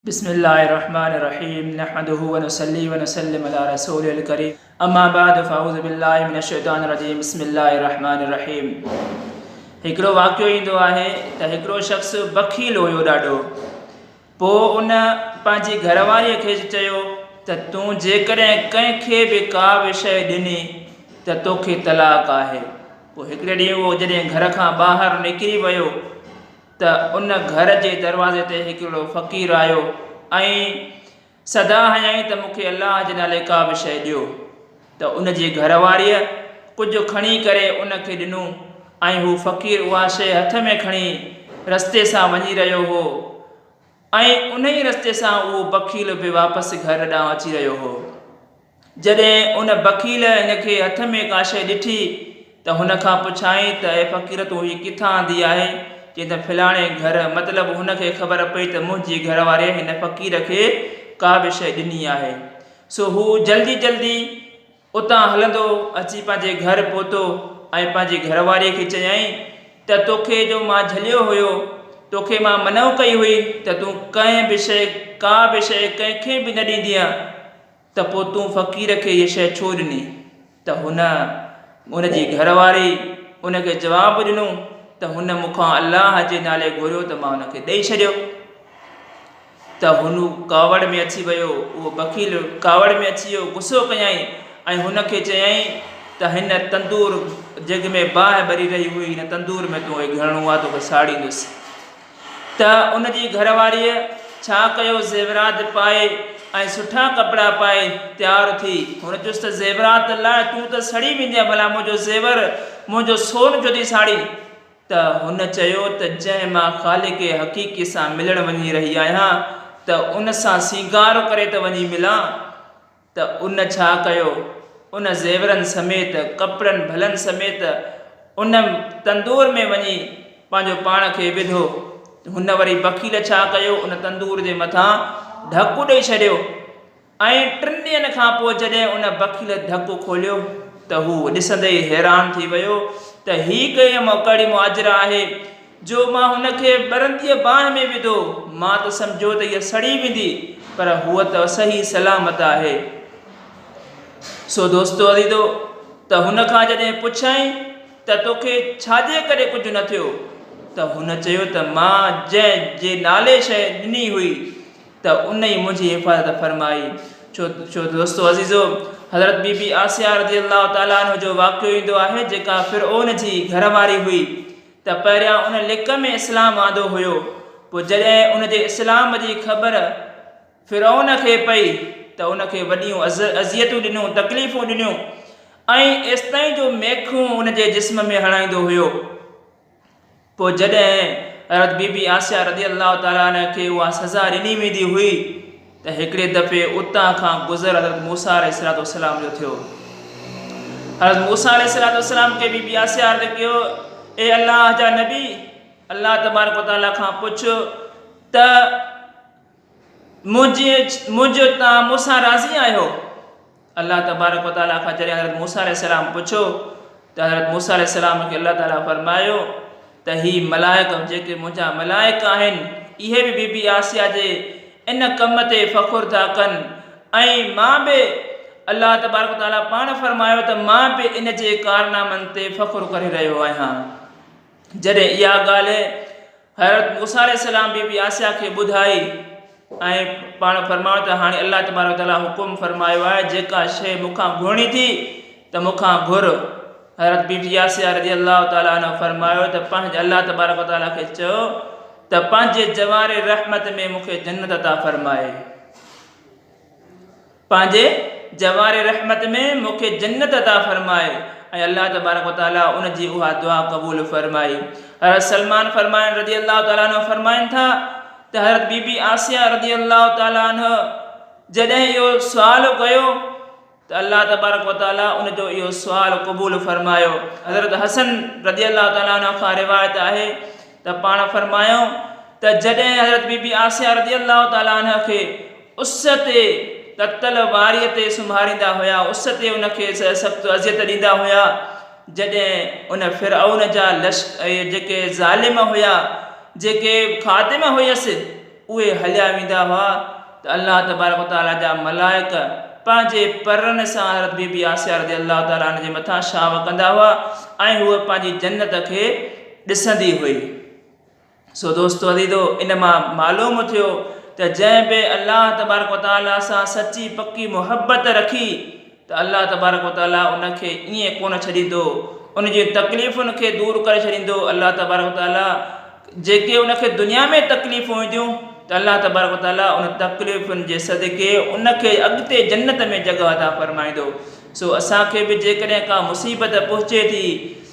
بسم الله الرحمٰن الرحيم نحمده ونصلي ونسلم علي رسوله الڪريم اما بعد فاعوذ بالله من الشيطان الرجيم بسم الله الرحمٰن الرحيم هڪڙو واقعو ايندو آهي ته هڪڙو شخص بخيل هيو ڏاڍو پوء ان پنهنجي گهرواري کي چيو ته تون جيڪڏهن ڪنهن کي به ڪا به شيء ڏني ته توکي طلاق آهي پوء هڪڙي ڏينهن اهو جڏهن گهر کان ٻاهر نڪري ويو ته ان گهر جي دروازي تي هڪڙو فقير آيو ۽ صدا هنيائين ته مون کي الله جي نالي ڪا به شيء ڏيو ته ان جي گهر واريء ڪجهه کڻي ڪري ان کي ڏنو ۽ هو فقير اها شيء هٿ ۾ کڻي رستي سان وڃي رهيو هو ۽ انهي رستي سان اهو بخيل به واپس گهر ڏانهن اچي رهيو هو. جڏهن ان بخيل هن کي هٿ ۾ ڪا شيء ڏٺي ته هن کان پڇيائين ته اي فقير تون هي ڪٿان آندي آهي؟ چيائين ته فلاڻي گهر. مطلب هن کي خبر پئي ته منهنجي گهر واريء هن فقير کي ڪا به شيء ڏني آهي. سو هو جلدي جلدي اتان هلندو اچي پنهنجي گهر پهتو ۽ پنهنجي گهر واريء کي چيائين ته توکي جو مان جهليو هيو، توکي مان منع ڪئي هئي ته تون ڪنهن به شيء، ڪا به شيء ڪنهن کي به نه ڏيندينء. ته پوء تون فقير کي هيء شيء ڇو ڏني؟ ته هن، هن جي گهر واري، ان کي جواب ڏنو ته هن مون کان الله جي نالي گهريو ته مان هن کي ڏئي ڇڏيو. ته هن ڪاوڙ ۾ اچي ويو، اهو بخيل ڪاوڙ ۾ اچي ويو، غصو ڪيائين ۽ هن کي چيائين ته هن تندور جنهن ۾ باهه ٻري رهي هئي، هن تندور ۾ تون هيء گهرڻو آ، توکي ساڙيندس. ته ان جي گهر واريء ڇا ڪيو زيورات پائي ۽ سٺا ڪپڙا پائي تيار ٿي. هن چيس ته زيورات لاء تون ته سڙي ويندينء ڀلا منهنجو زيور، منهنجو سون ڇو ٿي ساڙين؟ ته هن چيو ته جنهن مان خالق حقيقي سان ملڻ وڃي رهي آهيان ته ان سان سينگار ڪري ته وڃي ملان. ته ان ڇا ڪيو؟ ان زيورن سميت، ڪپڙن ڀلن سميت ان تندور ۾ وڃي پنهنجو پاڻ کي وڌو. هن وري بخيل ڇا ڪيو؟ ان تندور جي مٿان ڍڪ ڏئي ڇڏيو ۽ ٽن ڏينهن کان پوء جڏهن ان بخيل ڍڪ کوليو ته هو ڏسندي ئي حيران ٿي ويو ته هي ڪهڙي مهاجر آهي جو مان هن کي ٻرنديء باهه ۾ وڌو، مان ته سمجهيو ته هيء سڙي ويندي، پر هوء ته صحيح سلامت آهي. سو دوستو عزيزو، ته هن کان جڏهن پڇيائين ته توکي ڇا جي ڪري ڪجهه نه ٿيو؟ ته هن چيو ته مان جنهن جي نالي شيء ڏني هئي، ته ان ئي منهنجي حفاظت فرمائي. سو دوستو عزيزو، حضرت بي بي آسيا رضي الله تعالٰي عنها جو واقعو ايندو آهي، جيڪا فرعون جي گهر واري هئي، ته پهريان ان لڪ ۾ اسلام آندو هيو، پوء جڏهن ان جي اسلام جي خبر فرعون کي پئي ته ان کي وڏيون اذيتون ڏنيون، تڪليفون ڏنيون ۽ ايستائين جو ميخون ان جي جسم ۾ هڻائيندو هيو. پوء جڏهن حضرت بي بي عاسيه رضي الله تعالٰي عنها کي اها سزا ڏني ويندي هئي، ته هڪڙي دفعي اتان کان گذر حضرت موسيٰ عليه السلام جو ٿيو. حضرت موسيٰ عليه السلام کي بي بي آسيا عرض ڪيو، اي الله جا نبي! الله تبارڪ و تعاليٰ کان پڇ ته منهنجي منهنجي تان مون سان راضي آهيو؟ الله تبارڪ و تعاليٰ کان جڏهن حضرت موسيٰ عليه السلام پڇيو ته حضرت موسيٰ عليه السلام کي الله تعاليٰ فرمايو ته هي ملائڪ جيڪي منهنجا ملائڪ آهن اهي به بي بي آسيا جي ان ڪم تي فخر ٿا ڪن ۽ مان به الله تبارڪ و تعاليٰ پاڻ فرمايو ته مان به ان جي ڪارنامن تي فخر ڪري رهيو آهيان جڏهن اها ڳالهه حضرت موسيٰ عليه السلام بي بي آسيا کي ٻڌائي ۽ پاڻ فرمايو ته هاڻي الله تبارڪ و تعاليٰ حڪم فرمايو آهي جيڪا شيء مون کان گهرڻي ٿي ته مون کان گهر حضرت بي بي آسيا رضي الله تعاليٰ عنها فرمايو ته پنهنجي الله تبارڪ و تعاليٰ کي چئو ته پنهنجي جواري رحمت ۾ مون کي جنت عطا فرمائي پنهنجي جواري رحمت ۾ مون کي جنت عطا فرماء ۽ الله تبارڪ و تعاليٰ ان جي اها دعا قبول فرمائي. حضرت سلمان فرمائن رضي الله تعاليٰ عنه فرمائن ٿا ته حضرت بي بي عاصيه رضي الله تعاليٰ عنه جڏهن اهو سوال ڪيو، ته الله تبارڪ وتعالي ان جو اهو سوال قبول فرمايو حضرت حسن رضي الله تعالي عنه کان روايت آهي ته پاڻ فرمايو ته جڏهن حضرت بي بي آسيه رضي الله تعالي عنه کي اس تي تتل واري تي سمهاريندا هيا اس تي ان کي سخت اذيت ڏيندا هيا جڏهن ان فرعون جا لشڪر جيڪي ظالم هيا جيڪي خادم هيس اهي هليا ويندا هئا ته الله تبارڪ و تعالي جا ملائڪ پنهنجي پرن سان حضرت بي بي آسيه رضي الله تعالي عنها جي مٿان شاهه ڪندا هئا ۽ هوء پنهنجي جنت کي ڏسندي هئي. سو دوستو عزيزو ان مان معلوم ٿيو ته جنهن به الله تبارڪ و تعالي سان سچي پڪي محبت رکي ته الله تبارڪ و تعالي ان کي ائين ڪونه ڇڏيندو، ان جي تڪليفن کي دور ڪري ڇڏيندو، الله تبارڪ و تعالي جيڪي ان کي دنيا ۾ تڪليفون اينديون ته الله تبارڪ و تعالي ان تڪليفن جي صدقي ان کي اڳتي جنت ۾ جڳهه عطا فرمائيندو، سو اسان کي به جيڪڏهن ڪا مصيبت پهچي ٿي.